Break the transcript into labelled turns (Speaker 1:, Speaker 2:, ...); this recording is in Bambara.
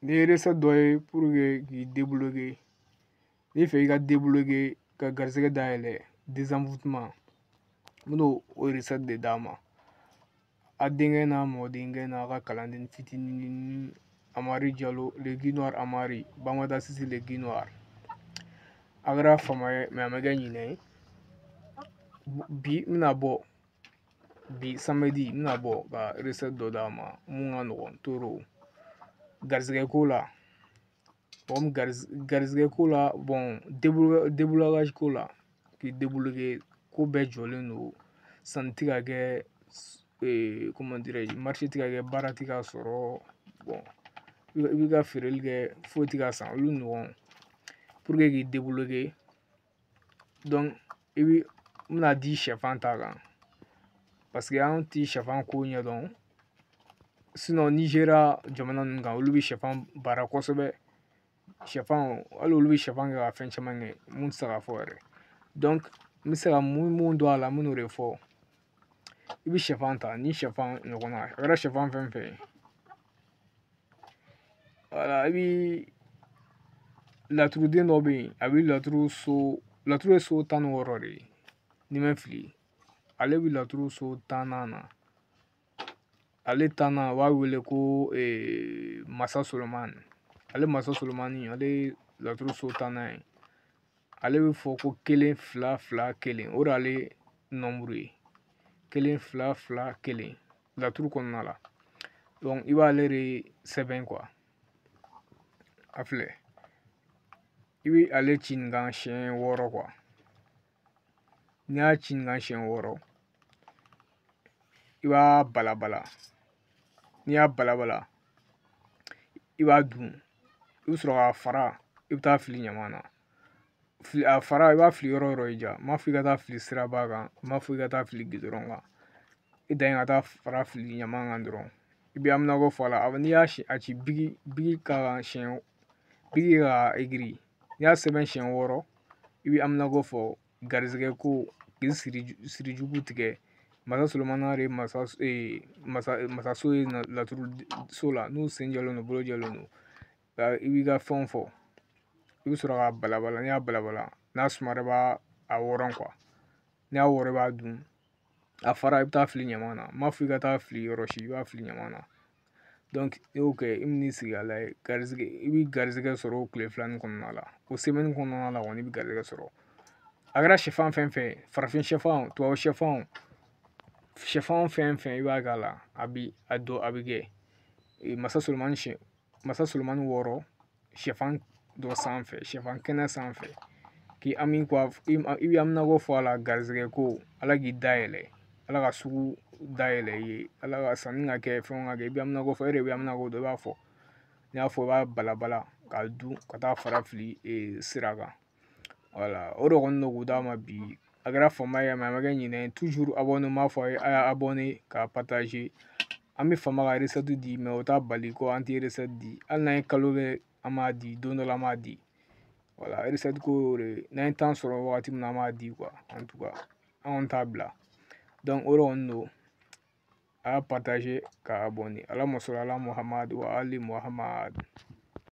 Speaker 1: nin ye recette dɔ ye pour que k'i débloquer n'i b'a fɛ i ka débloquer ka garisɛgɛ dayɛlɛ désenvoûtement n bɛna o recette de d'a ma a denkɛ n'a mɔdenkɛ n'a ka kalanden fitinin amadu jalo legidɔ amadu bangeda sisi le gdo a kɛra fama ye a ma kɛ ɲinɛ ye bi n bɛna bɔ bi samedi n bɛna bɔ ka recette dɔ d'a ma mun ka nɔgɔn trop garizigɛ ko la mɔgɔ min garizigɛ ko la bon déblocage ko la k'i débloquer ko bɛɛ jɔlen don sanni ti ka kɛ ee comment dirais je marché ti ka kɛ baara ti ka sɔrɔ bon i b'i ka feereli kɛ foyi ti ka san olu ɲɔgɔn pour que k'i débloquer bi n bɛna di sɛfan ta kan parce que an ti sɛfan ko ɲɛdɔn sinon nizeriya jamana ninnu kan olu bɛ sɛfan baara kosɛbɛ sɛfan hali olu bɛ sɛfan kɛ ka fɛn caman kɛ mun tɛ se ka fɔ yɛrɛ donc n bɛ se ka mun mun don a la n bɛn'o de fɔ i bɛ sɛfan ta ni sɛfan ɲɔgɔn na a kɛra sɛfan fɛn fɛn ye wala i bi laturu den dɔ bɛ yen a bɛ laturu so laturu ye so tan ni wɔɔrɔ de ye n'i ma fili ale bɛ laturu so tan na ale tan na u b'a wele ko masa solomani ale masa solomani ale laturu so tannan ye ale bɛ fɔ ko kelen fila fila kelen o de y'ale nombre ye kelen fila fila kelen laturu kɔnɔna la donc i b'ale de sɛbɛn quoi a filɛ i bɛ ale ci nin kan siɲɛ wɔɔrɔ quoi n'i y'a ci nin kan siɲɛ wɔɔrɔ i b'a balabala n'i y'a balabala i b'a dun i bɛ sɔrɔ k'a fara i bɛ taa fili ɲama na fili a fara i b'a fili yɔrɔ yɔrɔ i diya n m'a fɔ i ka taa fili siraba kan n m'a fɔ i ka taa fili gudɔrɔn kan i dan ye ka taa fara fili ɲama kan dɔrɔn i b'i haminanko fɔ a la n'i y'a si a ci bigi bigi ka siɲɛ bigi k'a écrire n'i y'a sɛbɛn siɲɛ wɔɔrɔ i b'i haminanko fɔ garizigɛ ko k'i siri siri jugu tigɛ masa solomani de masa masa masaso ye laturu so la n'u sen jɔlen don bolo jɔlen don ka i b'i ka fɛnw fɔ i bɛ sɔrɔ k'a balabala n'i y'a balabala n'a sumara i b'a wɔrɔ n'i y'a wɔrɔ i b'a dun a fara i bɛ taa fili ɲaman na n m'a fɔ i ka taa fili yɔrɔ si i b'a fili ɲaman na i y'o kɛ i bi n'i sigi ka layɛ garizigɛ i bi garizigɛ sɔrɔ o kile fila nin kɔnɔna la o semɛni kɔnɔna la kɔni i bi garizigɛ sɔrɔ a kɛra sɛfan fɛn fɛn ye farafin sɛfan tubabu sɛfan sɛfan fɛn fɛn i b'a k'a la a bi a don a bi kɛ masa solomani sɛ masa solomani wɔɔrɔ sɛfan dɔ sanfɛ sɛfan kɛnɛ sanfɛ k'i hami ko i bɛ haminanko fɔ a la garizigɛ ko ala k'i dayɛlɛ ala ka sugu dayɛlɛ i ye ala ka sanni ka kɛ fɛnw ka kɛ i bɛ haminanko fɔ e de bɛ haminanko dɔn i b'a fɔ n'i y'a fɔ i b'a balabala k'a dun ka taa fara fili sira kan wala o de kɔni don k'u d'a ma bi a kɛra fama ye a ma kɛ ɲinɛ ye tuzuru an bɛn'a fɔ a ye a y'a abɔne k'a pataze an bɛ fama ka resɛti di mɛ o t'a bali ko an tɛ resɛti di hali n'an ye kalo kɛ an b'a di don dɔ la an b'a di wala resɛti ko y'o de ye n'an ye tan sɔrɔ wagati min na an b'a di kuwa an tuka an kɔni t'a bila dɔnku o de kɔni don a y'a pataze k'a abɔne alahuma sɔli ala muhamadu wa ali muhamadu